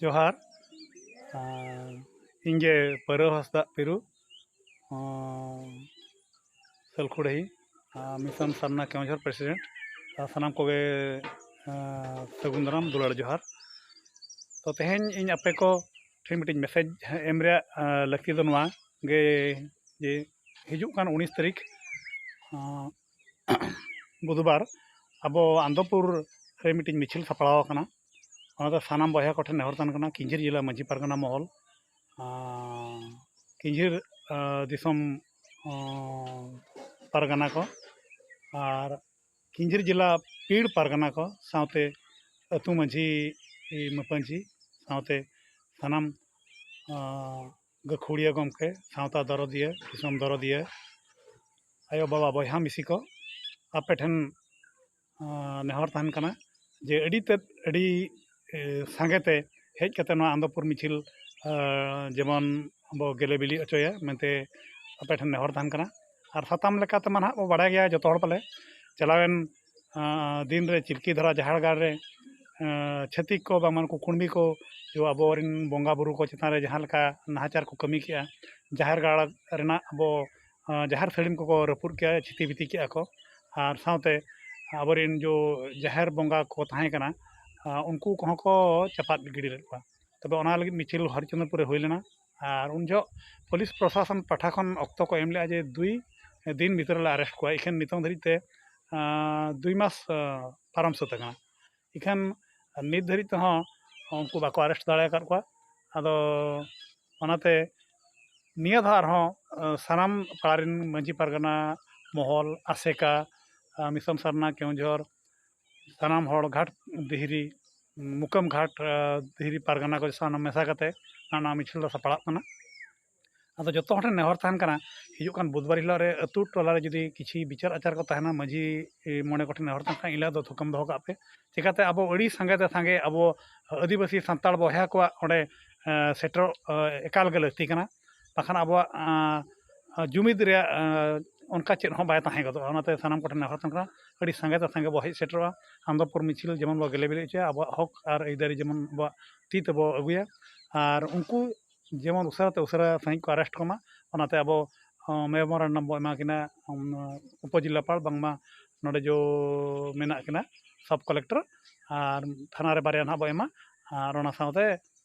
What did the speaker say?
ᱡᱚᱦᱟᱨ ᱤᱧ ᱜᱮ ᱯᱟᱹᱨᱟᱹ ᱦᱟᱸᱥᱫᱟᱜ ᱯᱤᱨᱩ ᱥᱟᱹᱞᱠᱷᱩᱲᱤ ᱢᱤᱥᱚᱱ ᱥᱟᱨᱱᱟ ᱠᱮᱣᱚᱱᱡᱷᱚᱲ ᱯᱨᱮᱥᱤᱰᱮᱱᱴ ᱟᱨ ᱥᱟᱱᱟᱢ ᱠᱚᱜᱮ ᱥᱟᱹᱜᱩᱱ ᱫᱟᱨᱟᱢ ᱫᱩᱞᱟᱹᱲ ᱡᱚᱦᱟᱨ ᱛᱚ ᱛᱮᱦᱮᱧ ᱤᱧ ᱟᱯᱮ ᱠᱚ ᱴᱷᱮᱱ ᱢᱤᱫᱴᱤᱡ ᱢᱮᱥᱮᱡᱽ ᱮᱢ ᱨᱮᱭᱟᱜ ᱞᱟᱹᱠᱛᱤ ᱫᱚ ᱱᱚᱣᱟ ᱜᱮ ᱡᱮ ᱦᱤᱡᱩᱜ ᱠᱟᱱ ᱩᱱᱤᱥ ᱛᱟᱹᱨᱤᱠᱷ ᱵᱩᱫᱷ ᱵᱟᱨ ᱟᱵᱚ ᱟᱱᱚᱱᱫᱚᱯᱩᱨ ᱨᱮ ᱢᱤᱫᱴᱤᱡ ᱢᱤᱪᱷᱤᱞ ᱥᱟᱯᱲᱟᱣ ᱟᱠᱟᱱᱟ ᱚᱱᱟᱫᱚ ᱥᱟᱱᱟᱢ ᱵᱚᱭᱦᱟ ᱠᱚᱴᱷᱮᱱ ᱱᱮᱦᱚᱨ ᱛᱟᱦᱮᱱ ᱠᱟᱱᱟ ᱠᱤᱧᱡᱷᱤᱨ ᱡᱮᱞᱟ ᱢᱟᱹᱡᱷᱤ ᱯᱟᱨᱜᱟᱱᱟ ᱢᱚᱦᱚᱞ ᱠᱤᱧᱡᱷᱤᱨ ᱫᱤᱥᱚᱢ ᱯᱟᱨᱜᱟᱱᱟ ᱠᱚ ᱟᱨ ᱠᱤᱧᱡᱷᱤᱨ ᱡᱮᱞᱟ ᱯᱤᱲ ᱯᱟᱨᱜᱟᱱᱟ ᱠᱚ ᱥᱟᱶᱛᱮ ᱟᱹᱛᱩ ᱢᱟᱹᱡᱷᱤ ᱢᱟᱹᱯᱟᱹᱡᱷᱤ ᱥᱟᱶᱛᱮ ᱥᱟᱱᱟᱢ ᱜᱟᱹᱠᱷᱩᱲᱤᱭᱟᱹ ᱜᱚᱢᱠᱮ ᱥᱟᱶᱛᱟ ᱫᱚᱨᱚᱫᱤᱭᱟᱹ ᱫᱤᱥᱚᱢ ᱫᱚᱨᱚᱫᱤᱭᱟᱹ ᱟᱭᱳᱼᱵᱟᱵᱟ ᱵᱚᱭᱦᱟ ᱢᱤᱥᱤ ᱠᱚ ᱟᱯᱮ ᱴᱷᱮᱱ ᱱᱮᱦᱚᱨ ᱛᱟᱦᱮᱱ ᱠᱟᱱᱟ ᱡᱮ ᱟᱹᱰᱤ ᱛᱮᱫ ᱟᱹᱰᱤ ᱥᱟᱸᱜᱮ ᱛᱮ ᱦᱮᱡ ᱠᱟᱛᱮᱫ ᱱᱚᱣᱟ ᱟᱱᱚᱱᱫᱚᱯᱩᱨ ᱢᱤᱪᱷᱤᱞ ᱡᱮᱢᱚᱱ ᱵᱚᱱ ᱜᱮᱞᱮ ᱵᱤᱞᱤ ᱦᱚᱪᱚᱭᱟ ᱢᱮᱱᱛᱮ ᱟᱯᱮ ᱴᱷᱮᱱ ᱱᱮᱦᱚᱨ ᱛᱟᱦᱮᱱ ᱠᱟᱱᱟ ᱟᱨ ᱥᱟᱛᱟᱢ ᱞᱮᱠᱟ ᱛᱮᱢᱟ ᱦᱟᱸᱜ ᱵᱚᱱ ᱵᱟᱲᱟᱭ ᱜᱮᱭᱟ ᱡᱚᱛᱚ ᱦᱚᱲ ᱯᱟᱞᱮ ᱪᱟᱞᱟᱣᱮᱱ ᱫᱤᱱ ᱨᱮ ᱪᱤᱞᱠᱤ ᱫᱷᱟᱨᱟ ᱡᱟᱦᱮᱨ ᱜᱟᱲ ᱨᱮ ᱪᱷᱟᱹᱛᱤᱠ ᱠᱚ ᱵᱟᱝᱢᱟ ᱱᱩᱠᱩ ᱠᱩᱬᱵᱤ ᱠᱚ ᱟᱵᱚ ᱨᱮᱱ ᱵᱚᱸᱜᱟᱼᱵᱩᱨᱩ ᱠᱚ ᱪᱮᱛᱟᱱ ᱨᱮ ᱡᱟᱦᱟᱸ ᱞᱮᱠᱟ ᱱᱟᱦᱟᱪᱟᱨ ᱠᱚ ᱠᱟᱹᱢᱤ ᱠᱮᱜᱼᱟ ᱡᱟᱦᱮᱨ ᱜᱟᱲ ᱨᱮᱱᱟᱜ ᱟᱵᱚ ᱡᱟᱦᱮᱨ ᱥᱟᱹᱲᱤᱢ ᱠᱚᱠᱚ ᱨᱟᱹᱯᱩᱫ ᱠᱮᱜᱼᱟ ᱪᱷᱤᱛᱤ ᱵᱤᱛᱤ ᱠᱮᱜᱼᱟ ᱠᱚ ᱟᱨ ᱥᱟᱶᱛᱮ ᱟᱵᱚ ᱨᱮᱱ ᱡᱚ ᱡᱟᱦᱮᱨ ᱵᱚᱸᱜᱟ ᱠᱚ ᱛᱟᱦᱮᱸ ᱠᱟᱱᱟ ᱩᱱᱠᱩ ᱠᱚᱦᱚᱸ ᱠᱚ ᱪᱟᱯᱟᱫ ᱜᱤᱰᱤ ᱞᱮᱫ ᱠᱚᱣᱟ ᱛᱚᱵᱮ ᱚᱱᱟ ᱞᱟᱹᱜᱤᱫ ᱢᱤᱪᱷᱤᱞ ᱦᱚᱨᱤᱪᱚᱱᱫᱨᱚᱯᱩᱨ ᱨᱮ ᱦᱩᱭ ᱞᱮᱱᱟ ᱟᱨ ᱩᱱ ᱡᱚᱦᱚᱜ ᱯᱩᱞᱤᱥ ᱯᱨᱚᱥᱟᱥᱚᱱ ᱯᱟᱦᱴᱟ ᱠᱷᱚᱱ ᱚᱠᱛᱚ ᱠᱚ ᱮᱢ ᱞᱮᱜᱼᱟ ᱡᱮ ᱫᱩᱭ ᱫᱤᱱ ᱵᱷᱤᱛᱨᱤ ᱨᱮᱞᱮ ᱟᱨᱮᱥᱴ ᱠᱚᱣᱟ ᱤᱠᱷᱟᱹᱱ ᱱᱤᱛᱚᱜ ᱫᱷᱟᱹᱨᱤᱡ ᱛᱮ ᱫᱩᱭ ᱢᱟᱥ ᱯᱟᱨᱚᱢ ᱥᱟᱹᱛ ᱟᱠᱟᱱᱟ ᱤᱠᱷᱟᱹᱱ ᱱᱤᱛ ᱫᱷᱟᱹᱨᱤᱡ ᱛᱮᱦᱚᱸ ᱩᱱᱠᱩ ᱵᱟᱠᱚ ᱟᱨᱮᱥᱴ ᱫᱟᱲᱮ ᱟᱠᱟᱫ ᱠᱚᱣᱟ ᱟᱫᱚ ᱚᱱᱟᱛᱮ ᱱᱤᱭᱟᱹ ᱫᱷᱟᱣ ᱟᱨᱦᱚᱸ ᱥᱟᱱᱟᱢ ᱯᱟᱲᱟ ᱨᱮᱱ ᱢᱟᱹᱡᱷᱤ ᱯᱟᱨᱜᱟᱱᱟ ᱢᱚᱦᱚᱞ ᱟᱥᱮᱠᱟ ᱢᱤᱥᱚᱱ ᱥᱟᱨᱱᱟ ᱠᱮᱣᱡᱷᱚᱨ ᱥᱟᱱᱟᱢ ᱦᱚᱲ ᱜᱷᱟᱴ ᱫᱷᱤᱨᱤ ᱢᱩᱠᱟᱹᱢ ᱜᱷᱟᱴ ᱫᱷᱤᱨᱤ ᱯᱟᱨᱜᱟᱱᱟ ᱠᱚ ᱥᱟᱱᱟᱢ ᱢᱮᱥᱟ ᱠᱟᱛᱮᱫ ᱚᱱᱟ ᱢᱤᱪᱷᱤᱞ ᱫᱚ ᱥᱟᱯᱲᱟᱜ ᱠᱟᱱᱟ ᱟᱫᱚ ᱡᱚᱛᱚ ᱦᱚᱲ ᱴᱷᱮᱱ ᱱᱮᱦᱚᱨ ᱛᱟᱦᱮᱱ ᱠᱟᱱᱟ ᱦᱤᱡᱩᱜ ᱠᱟᱱ ᱵᱩᱫᱷᱵᱟᱨ ᱦᱤᱞᱳᱜ ᱨᱮ ᱟᱛᱳ ᱴᱚᱞᱟ ᱨᱮ ᱡᱩᱫᱤ ᱠᱤᱪᱷᱩ ᱵᱤᱪᱟᱹᱨ ᱟᱪᱟᱨ ᱠᱚ ᱛᱟᱦᱮᱱᱟ ᱢᱟᱺᱡᱷᱤ ᱢᱚᱬᱮ ᱠᱚᱴᱷᱮᱱ ᱱᱮᱦᱚᱨ ᱛᱟᱦᱮᱱ ᱠᱷᱟᱱ ᱮᱱ ᱦᱤᱞᱳᱜ ᱫᱚ ᱛᱷᱩᱠᱟᱹᱢ ᱫᱚᱦᱚ ᱠᱟᱜ ᱯᱮ ᱪᱤᱠᱟᱹᱛᱮ ᱟᱵᱚ ᱟᱹᱰᱤ ᱥᱟᱸᱜᱮ ᱛᱮ ᱥᱟᱸᱜᱮ ᱟᱵᱚ ᱟᱹᱫᱤᱵᱟᱹᱥᱤ ᱥᱟᱱᱛᱟᱲ ᱵᱚᱭᱦᱟ ᱠᱚᱣᱟᱜ ᱚᱸᱰᱮ ᱥᱮᱴᱮᱨᱚᱜ ᱮᱠᱟᱞ ᱜᱮ ᱞᱟᱹᱠᱛᱤ ᱠᱟᱱᱟ ᱵᱟᱠᱷᱟᱱ ᱟᱵᱚᱣᱟᱜ ᱡᱩᱢᱤᱫ ᱨᱮᱭᱟᱜ ᱚᱱᱠᱟ ᱪᱮᱫ ᱦᱚᱸ ᱵᱟᱭ ᱛᱟᱦᱮᱸ ᱜᱚᱫᱚᱜᱼᱟ ᱚᱱᱟᱛᱮ ᱥᱟᱱᱟᱢ ᱠᱚᱴᱷᱮᱱ ᱱᱮᱦᱚᱨ ᱛᱟᱦᱮᱱ ᱠᱟᱱᱟ ᱟᱹᱰᱤ ᱥᱟᱸᱜᱮ ᱛᱮ ᱥᱟᱸᱜᱮ ᱵᱚᱱ ᱦᱮᱡ ᱥᱮᱴᱮᱨᱚᱜᱼᱟ ᱟᱱᱚᱱᱫᱚᱯᱩᱨ ᱢᱤᱪᱷᱤᱞ ᱡᱮᱢᱚᱱ ᱵᱚᱱ ᱜᱮᱞᱮ ᱵᱮᱨᱮᱫ ᱦᱚᱪᱚᱭᱟ ᱟᱵᱚᱣᱟᱜ ᱦᱚᱸᱠ ᱟᱨ ᱟᱹᱭᱫᱟᱹᱨᱤ ᱡᱮᱢᱚᱱ ᱟᱵᱚᱣᱟᱜ ᱛᱤ ᱛᱮᱵᱚᱱ ᱟᱹᱜᱩᱭᱟ ᱟᱨ ᱩᱱᱠᱩ ᱡᱮᱢᱚᱱ ᱩᱥᱟᱹᱨᱟ ᱛᱮ ᱩᱥᱟᱹᱨᱟ ᱥᱟᱺᱦᱤᱡ ᱠᱚ ᱟᱨᱮᱥᱴ ᱠᱚᱢᱟ ᱚᱱᱟᱛᱮ ᱟᱵᱚ ᱢᱮᱢᱳᱨᱮᱱᱰᱚᱢ ᱵᱚᱱ ᱮᱢᱟ ᱠᱤᱱᱟ ᱩᱯᱚᱡᱮᱞᱟᱯᱟᱞ ᱵᱟᱝᱢᱟ ᱱᱚᱰᱮ ᱡᱚ ᱢᱮᱱᱟᱜ ᱠᱤᱱᱟ ᱥᱟᱵᱽ ᱠᱚᱞᱮᱠᱴᱚᱨ ᱟᱨ ᱛᱷᱟᱱᱟ ᱨᱮ ᱵᱟᱨᱭᱟ ᱦᱟᱸᱜ ᱵᱚᱱ ᱮᱢᱟ ᱟᱨ ᱚᱱᱟ ᱥᱟᱶᱛᱮ